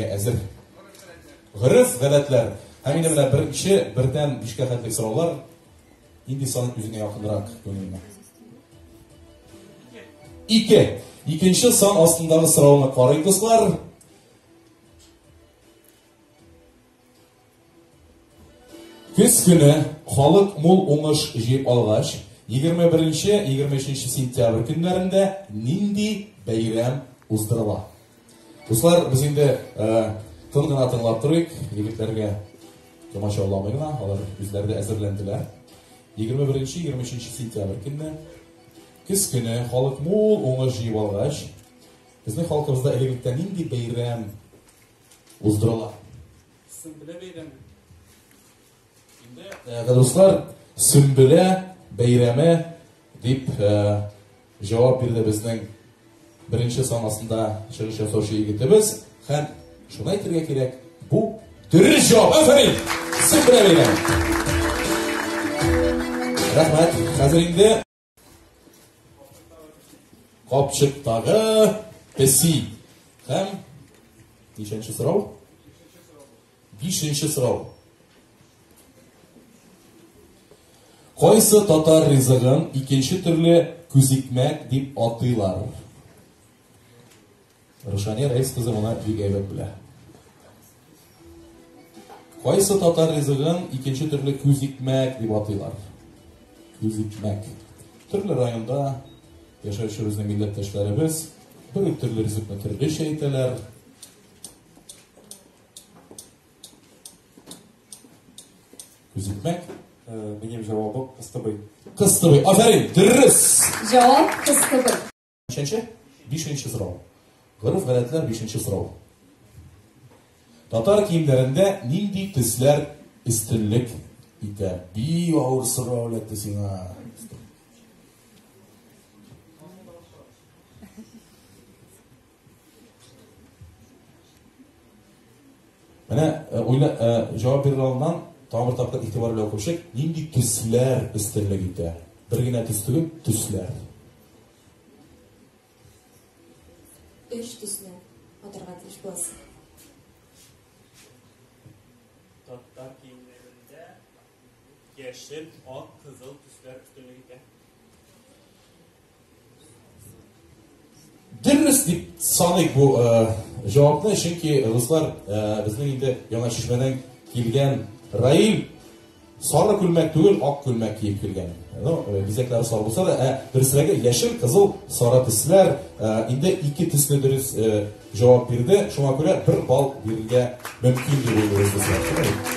Әзер. Гырыф, гадәтләр. Һәм инде менә беренче, бердән бишкә хәтлек сораулар. Инде сан үзеңә якынрак күңелеңә. Ике. Икенче сан астындагы сорауны карыйк, дуслар. Көз көне халык мул уңыш җыеп алгач, 21-23 сентябрь көннәрендә нинди бәйрәм уздырыла? Дуслар, без инде тын гына тыңлап торыйк, егетләргә комачауламый гына, алар үзләре дә әзерләнделәр. 21-23 сентябрь көнне көз көне халык мул уңыш җыеп алгач, безнең халкыбызда элегрәктә нинди бәйрәм уздырыла. Сөмбелә бәйрәме. Инде, э, дуслар, Сөмбелә бәйрәме дип э, җавап бирде безнең беренче санасында чыгыш ясаучы егетебез һәм шуны әйтергә кирәк, бу дөрес җавап. Афәрин! Сөмбелә бәйрәме. Рәхмәт. Хәзер инде Капчыктагы песи. Һәм ничәнче сорау? Бишенче сорау. Кайсы татар ризыгын икенче төрле күзикмәк дип атыйлар? Рушания Рәис кызы моны бик әйбәт белә. Кайсы татар ризыгын икенче төрле күзикмәк дип атыйлар? Күзикмәк. Төрле районда яшәүче безнең милләттәшләребез бер үк төрле ризыкны төрлечә әйтәләр. Күзикмәк. Минем җавабым кыстыбый. Кыстыбый. Афәрин, дөрес. Җавап кыстыбый. Ничәнче? Бишенче сорау. Гореф-гадәтләр бишенче сорау. Татар киемнәрендә нинди төсләр өстенлек итә? Бии авыр сорау әләтте сиңа. Менә э, уйла э, җавап бирә алган тагын тапкыр игътибар белән күршек, нинди төсләр өстенлек итә? Бер генә төс түгел, төсләр. Өч төсне атырга тиеш буласың. Татар киемнәрендә яшел, ак, кызыл төсләр өстенлек итә. Дөрес дип саныйк бу җавапны, чөнки руслар безнең инде Яңа Чишмәдән килгән Раил Сары күлмәк түгел, ак күлмәк киеп килгән. Ну, э, бизәкләре сары булса да, ә дөресрәге яшел, кызыл, сары төсләр. Э, инде ике төсне дөрес э, җавап бирде. Шуңа күрә бер балл бирергә мөмкин дип уйлыйбыз без.